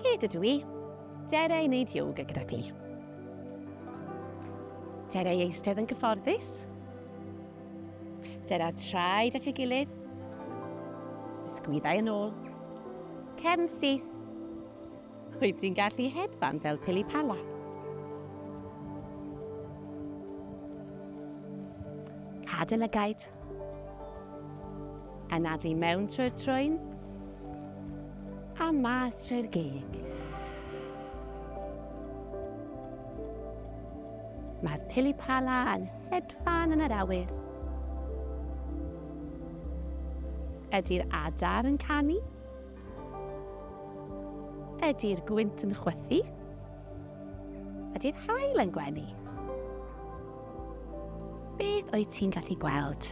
Cyd ydw i. Dere i wneud yoga gyda chi. Dere i eistedd yn gyfforddus. Dere traed at ei gilydd. Ysgwyddau yn ôl. Cefn syth. Wyt ti'n gallu hedfan fel pili pala? Cadel y gaid. Anadlu mewn trwy'r trwyn a mas trwy'r gig. Mae'r pili pala yn hedfan yn yr awyr. Ydy'r adar yn canu? Ydy'r gwynt yn chwythu? Ydy'r haul yn gwenu? Beth o'i ti'n gallu gweld?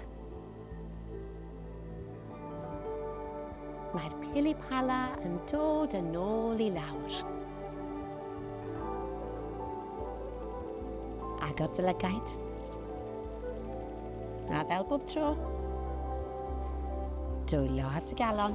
Mae'r pilipala yn dod yn ôl i lawr. Agor dy lygaid. A fel bob tro, dwylio ar dy galon.